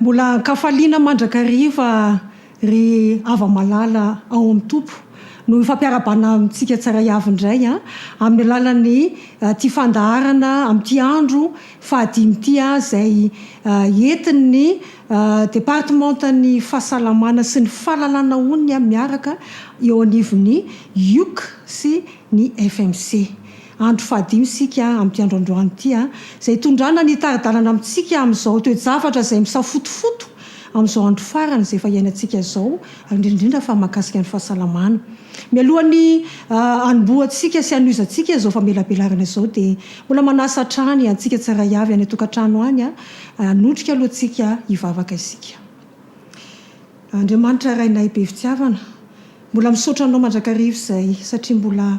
Mbola ankafaliana mandrakariva ry hava-malala ao amin'ny Tompo no hifampiarahabana amintsika tsiraiavy indray amin'ny alalan'ny ity fandaharana amin'ity andro fahadimy ity izay entin'ny Departemantan'ny Fahasalamana sy ny Fahalalana Onony miaraka eo anivon'ny Iuc sy ny FMC. Andro fahadimy isika amin'ity andro androany ity, izay hitondrana ny hitari-dalana amintsika amin'izao toe-javatra izay misafotofoto amin'izao andro farany izay efa iainantsika izao, ary indrindra indrindra fa mahakasika ny fahasalamana. Mialohan'ny hanombohantsika sy hanohizantsika izao famelabelarana izao dia mbola manasa hatrany antsika tsirairay avy any an-tokantrano any hanondrika alohantsika hivavaka isika. Andriamanitra Rainay be fitiavana, mbola misaotra Anao mandrakariva izay satria mbola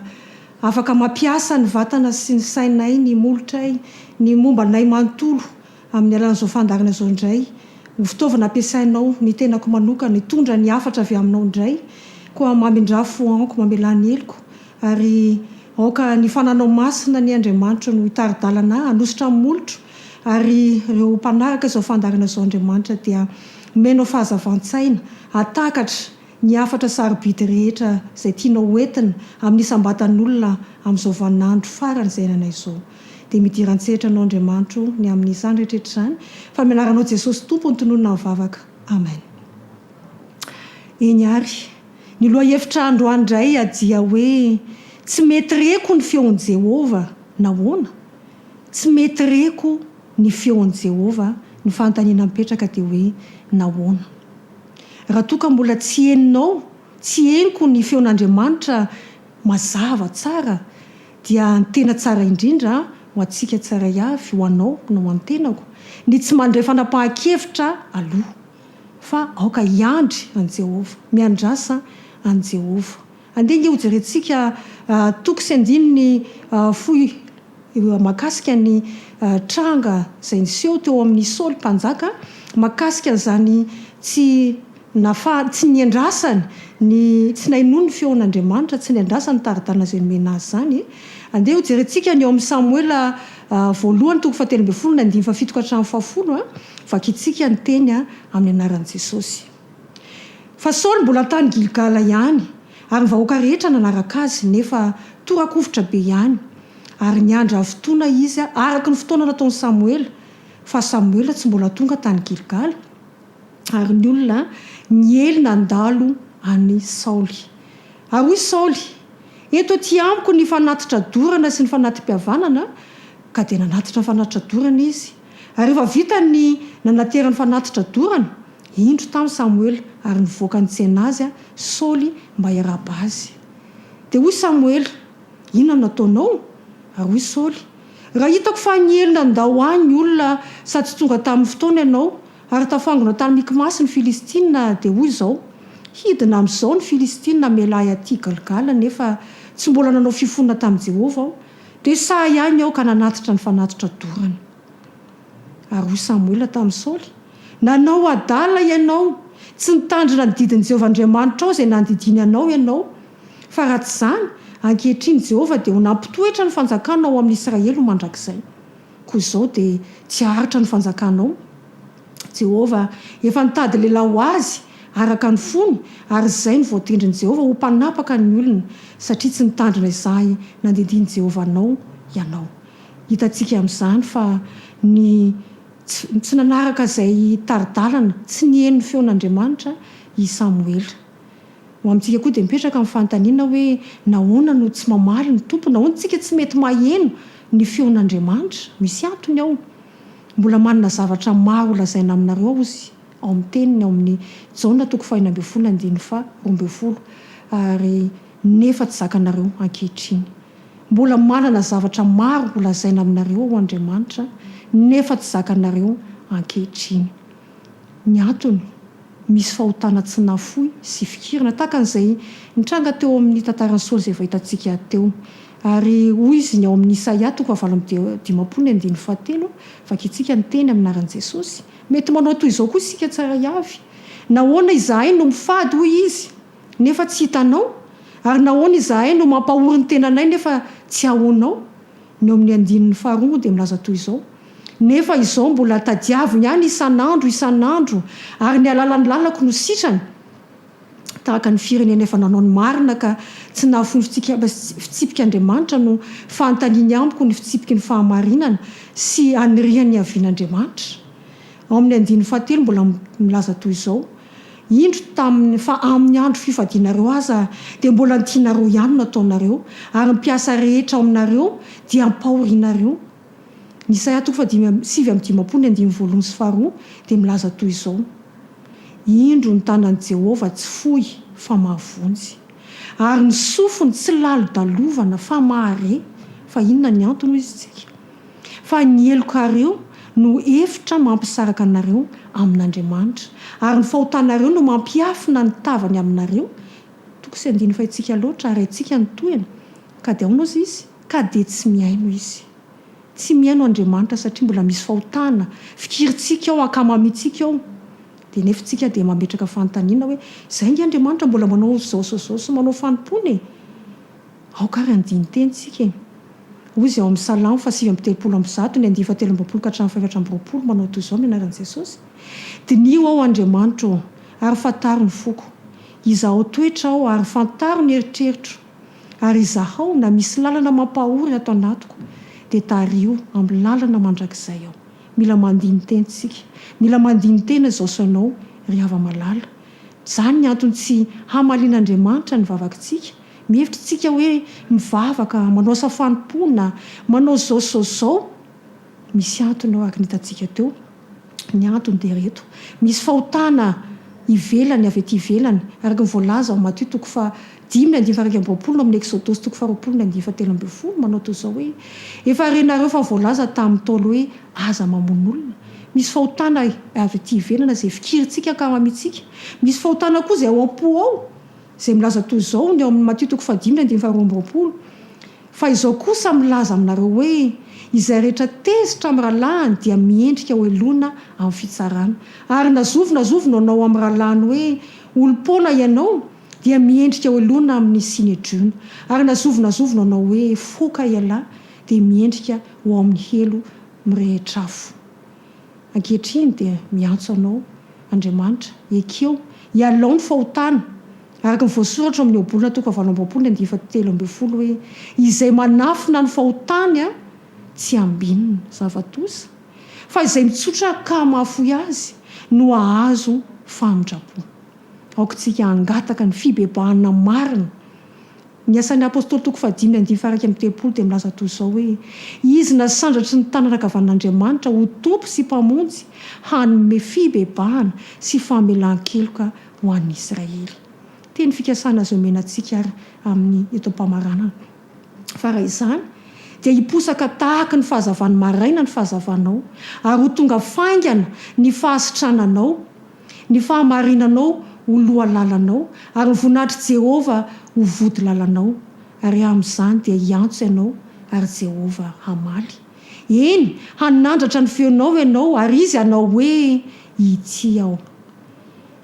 Afaka mampiasa ny vatana sy ny sainay, ny molotray, ny momba anay manontolo amin'ny alalan'izao fandaharana izao indray. Ho fitaovana ampiasainao ny tenako manokana, hitondra ny hafatra avy aminao indray. Koa mamindrà foanko, mamelà ny heloko. Ary aoka ny fananao masina anie Andriamanitro no hitari-dalana ahy, hanositra ny molotro. Ary ireo mpanaraka izao fandaharana izao Andriamanitra dia omenao fahazavan-tsaina, hahatakatra ny hafatra sarobidy rehetra izay tianao hoentina amin'ny isam-batan'olona amin'izao vaninandro farany izay iainana izao. Dia midira an-tsehatra anao Andriamanitro ny amin'izany rehetra izany fa amin'ny anaranao Jesosy Tompo no tononina ny vavaka. Amen. Eny ary, ny lohahevitra androany indray dia hoe Tsy mety reko ny feon'i Jehovah. Nahoana? Tsy mety reko ny feon'i Jehovah. Ny fanontaniana mipetraka dia hoe nahoana? Raha toa ka mbola tsy henonao, tsy henoko ny feon'Andriamanitra mazava tsara, dia ny tena tsara indrindra ho antsika tsirairay avy, ho anao na ho an'ny tenako, ny tsy mandray fanapahan-kevitra aloha, fa aoka hiandry an'i Jehovah, miandrasa an'i Jehovah. Andeha ange hojerentsika toko sy andininy fohy mahakasika ny tranga izay niseho teo amin'i Saoly Mpanjaka mahakasika an'izany tsy nahafahany, tsy niandrasany ny, tsy nainoany ny feon'Andriamanitra, tsy niandrasany ny tari-dalana izay nomena azy izany. Andeha hojerentsika ny ao amin'i Samoela voalohany toko fahatelo ambin'ny folo ny andininy fahafito ka hatramin'ny fahafolo. Vakintsika ny teny amin'ny anaran'i Jesosy. Fa Saoly mbola tany Gilgala ihany, ary ny vahoaka rehetra nanaraka azy, nefa tora-kovitra be ihany, ary niandry havotoana izy araka ny fotoana nataon'i Samoela, fa Samoela tsy mbola tonga tany Gilgala, ary ny olona niely nandalo an'i Saoly. Ary hoy Saoly, Eto aty amiko ny fanatitra dorana sy ny fanati-pihavanana, ka dia nanatitra ny fanatitra dorana izy. Ary rehefa vita ny nanaterany fanatitra dorana, indro tamy Samoela, ary nivoaka nitsena azy Saoly mba hiarahaba azy. Dia hoy Samoela, Inona no nataonao? Ary hoy Saoly, Raha hitako fa niely nandao ahy ny olona sady tsy tonga tamy ny fotoana ianao, ary tafangona tany Mikmasy ny Filistina, dia hoy izao, Hidina amy izao ny Filistina hamela ahy aty Galgala, nefa tsy mbola nanao fifonona tamy Jehovah aho, Dia sahy ahy ny aoka nanatitra ny fanatitra dorana. Ary hoy Samoela tamin'i Saoly, Nanao adala ianao, tsy nitandrina ny didin'i Jehovah Andriamanitrao izay nandidiany anao ianao. Fa raha tsy izany, ankehitriny Jehovah dia ho nampitoetra ny fanjakana ao amin'Israely ho mandrakizay. Koa izao dia tsy haharitra ny fanjakanao. Jehovah efa nitady lehilahy ho azy araka ny fony, ary izay no voatendrin'i Jehovah ho mpanapaka ny olona, satria tsy nitandrina izay nandidian'i Jehovah anao ianao. Hitantsika amin'izany fa ny tsy nanaraka izay tari-dalana, tsy niheno ny feon'Andriamanitra i Samoela. Ho amintsika koa dia mipetraka ny fanontaniana hoe nahoana no tsy mamaly ny Tompo? Nahoana isika tsy mety maheno ny feon'Andriamanitra? Misy antony ao. Mbola manana zavatra maro ho lazaina aminareo aho Izy ao amin'ny teniny ao amin'ny Jaona toko fahenina ambin'ny folo andininy faha roa ambin'ny folo ary nefa tsy zakanareo ankehitriny. Mbola manana zavatra maro ho lazaina aminareo aho Andriamanitra nefa tsy zakanareo ankehitriny. ny antony, misy fahotana tsy nafoy sy fikirana, tahaka an'izay nitranga teo amin'ny tantaran'i Saoly izay efa hitantsika teo. Ary hoy izy ny ao amin'ny Isaia toko fahavalo amby dimampolo ny andininy fahatelo, Vakintsika ny teny amin'ny anaran'i Jesosy. Mety manao toy izao koa isika tsiraiavy, Nahoana izahay no mifady, hoy izy, nefa tsy hitanao? Ary nahoana izahay no mampahory ny tenanay nefa tsy ahoanao? Ny ao amin'ny andininy faharoa moa dia milaza toy izao, Nefa izao mbola tadiaviny ihany isan'andro isan'andro, ary ny alalan'ny lalako no sitrany, tahaka ny firenena efa nanao ny marina ka tsy nahafoy ny fitsipiky Andriamanitra no fanontaniany amiko ny fitsipiky ny fahamarinana sy aniriany hiavian'Andriamanitra. Ao amin'ny andininy fahatelo mbola milaza toy izao, Indro taminy fa amin'ny andro fifadianareo aza dia mbola ny tianareo ihany no ataonareo, ary ny mpiasa rehetra ao aminareo dia ampahorinareo. Ny Isaia toko fahadimy amby sivy amby dimampolo ny andininy voalohany sy faharoa dia milaza toy izao, Indro ny tanan'i Jehovah tsy fohy fa mahavonjy, ary ny sofiny tsy lalo-dalovana fa mahare. Fa inona ny antony, hoy isika? Fa ny helokareo no efitra mampisaraka anareo amin'Andriamanitra, ary ny fahotanareo no mampiafina ny tavany aminareo, toko sy andininy Fahintsika loatra, ary haintsika ny tohiny, ka dia aonaozy izy, ka dia tsy mihaino izy. Tsy mihaino Andriamanitra satria mbola misy fahotana, fikirintsika ao, ankamamitsika ao, dia nefa itsika dia mametraka fanontaniana hoe, izay ange Andriamanitra mbola manao zaozaozao sy manao fanompoana e! Aoka ary handini-teny isika e! Hoy izay ao amin'ny Salamo fahasivy amby telopolo amby zato, ny andiany fahatelo amby roapolo ka hatramin'ny fahefatra amby roapolo, manao toy izao ny anaran'i Jesosy, Diniho aho, Andriamanitro ô, ary fantaro ny foko. Izahao toetra aho, ary fantaro ny eritreritro. Ary izahao na misy lalana mampahory ato anatiko, dia tariho amin'ny lalana mandrakizay aho. Mila mandini-teny isika. Mila mandini-tena izao sao ianao ry hava-malala. Izany ny antony tsy hamalian'Andriamanitra ny vavakintsika, Mihevitra isika hoe mivavaka, manao asa fanompoana, manao izao sy izao sy izao. Misy antony ao araka ny hitantsika teo. Ny antony dia ireto, misy fahotana ivelany, avy aty ivelany, araka ny voalaza ao Matio toko faha dimy andininy faha iraika amby roapolo, ao amin'ny Eksodosy toko faha roapolo andininy faha telo ambin'ny folo, manao toy izao hoe, Efa renareo fa voalaza tamin'ny Ntaolo hoe, Aza mamono olona. Misy fahotana avy aty ivelany izay fikirintsika ankahamantsika. Misy fahotana koa izay ao am-po ao. izay milaza toy izao ny ao amin'ny Matio toko fahadimy andininy faharoa amby roapolo, Fa izao kosa milaza aminareo hoe, Izay rehetra tezitra amin'ny rahalahiny dia miendrika ho heloina amin'ny fitsarana, ary na zovy na zovy no hanao amin'ny rahalahiny hoe, Olom-poana ianao, dia miendrika ho heloina amin'ny Synedriona, ary na zovy na zovy no hanao hoe, Foka ialahy, dia miendrika ho ao amin'ny helo mirehitra afo. Ankehitriny dia miantso anao, Andriamanitra, ekeo, ialao ny fahotana. Araka ny voasoratra ao amin'ny Ohabolana toko fahavalo amby roapolo ny andiany fahatelo ambin'ny folo hoe, Izay manafina ny fahotany tsy ambinina, zava-doza, fa izay mitsotra ka mahafoy azy no hahazo famindram-po. Aoka isika hangataka ny fibebahana marina. Ny Asan'ny Apostoly toko fahadimy andivo faha iraika amby telopolo dia milaza toy izao hoe, Izy nasandratry ny tanana ankavan'Andriamanitra ho Tompo sy Mpamonjy hanome fibebahana sy famelan-keloka ho an'ny Israely. Teny fikasana azo omena antsika àry amin'ny eto am-pamaranana fa raha izany dia hiposaka tahaka ny fahazavan'ny maraina ny fahazavanao ary ho tonga faingana ny fahasitrananao, Ny fahamarinanao ho lohalalanao, ary ny voninahitr'i Jehovah ho vodilalanao, ary amin'izany dia hiantso ianao, ary Jehovah hamaly. Eny, hanandratra ny feonao ianao, ary izy hanao hoe, Ity aho.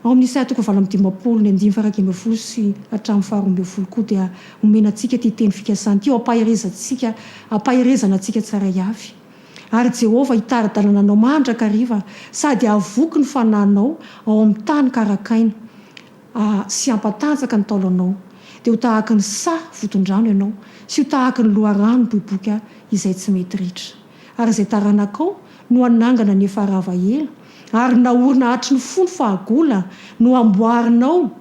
Ao amin'ny Isaia toko valo amby dimampolo, ny andininy faraika ambin'ny folo sy hatramin'ny faharoa ambin'ny folo koa dia omena antsika ity teny fikasana ity ho ampaherezantsika, ampaherezana antsika tsiraiavy. Ary Jehovah hitari-dalana anao mandrakariva sady hahavoky ny fanahinao ao amin'ny tany karakaina sy hampatanjaka ny taolanao, dia ho tahaka ny saha voton-drano ianao sy ho tahaka ny loharano miboiboika izay tsy mety ritra. Ary izay taranakao no hanangana ny efa rava ela, ary naorina hatry ny fony fahagola no hamboarinao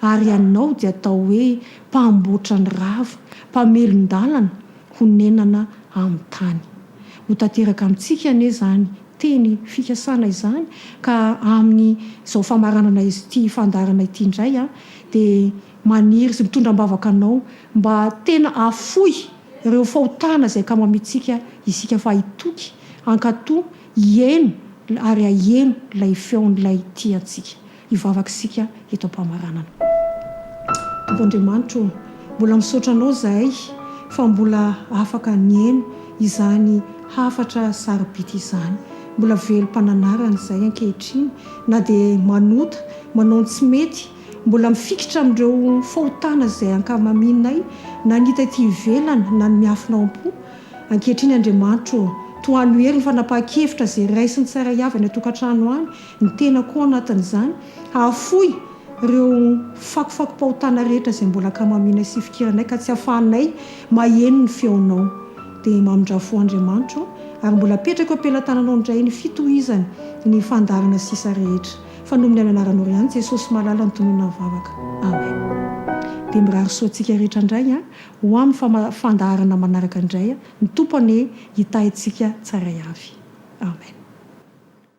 ary ianao dia atao hoe mpamboatra ny rava, mpamelon-dalana honenana amin'ny tany. Ho tanteraka amintsika anie izany teny fikasana izany ka amin'izao famaranana ity fandaharana ity indray aho dia maniry sy mitondra am-bavaka anao mba tena hahafoy ireo fahotana izay kamo amintsika isika fa hitoky hankatò hihaino ary haheno ilay feon'ilay tia antsika. Hivavaka isika eto am-pamaranana. Tompo Andriamanitra ô, mbola misaotra Anao izahay fa mbola afaka nihaino izany hafatra saro-bidy izany. Mbola velom-pananarana izahay ankehitriny, na dia manota, manao ny tsy mety, mbola mifikitra amin'ireo fahotana izay ankamaminay, na ny hita ety ivelany na ny miafina ao am-po. Ankehitriny Andriamanitra ô, tohano hery ny fanapahan-kevitra izay raisiny tsara hiavy any an-tokantrano any, ny tenako ao anatin'izany, hahafoy ireo fakofakom-pahotana rehetra izay mbola ankamaminay sy ifikiranay ka tsy ahafahanay maheno ny feonao. Dia mamindra fo Andriamanitro, ary mbola apetrako eo am-pelatananao indray ny fitohizany ny fandaharana sisa rehetra. Fa noho ny amin'ny anaranao ihany Jesosy malala no tononina ny vavaka. Amen. Dia mirary soa antsika rehetra indray an, ho amin'ny fama fandaharana manaraka indray an, ny Tompo anie hitahy antsika tsaray avy. Amen.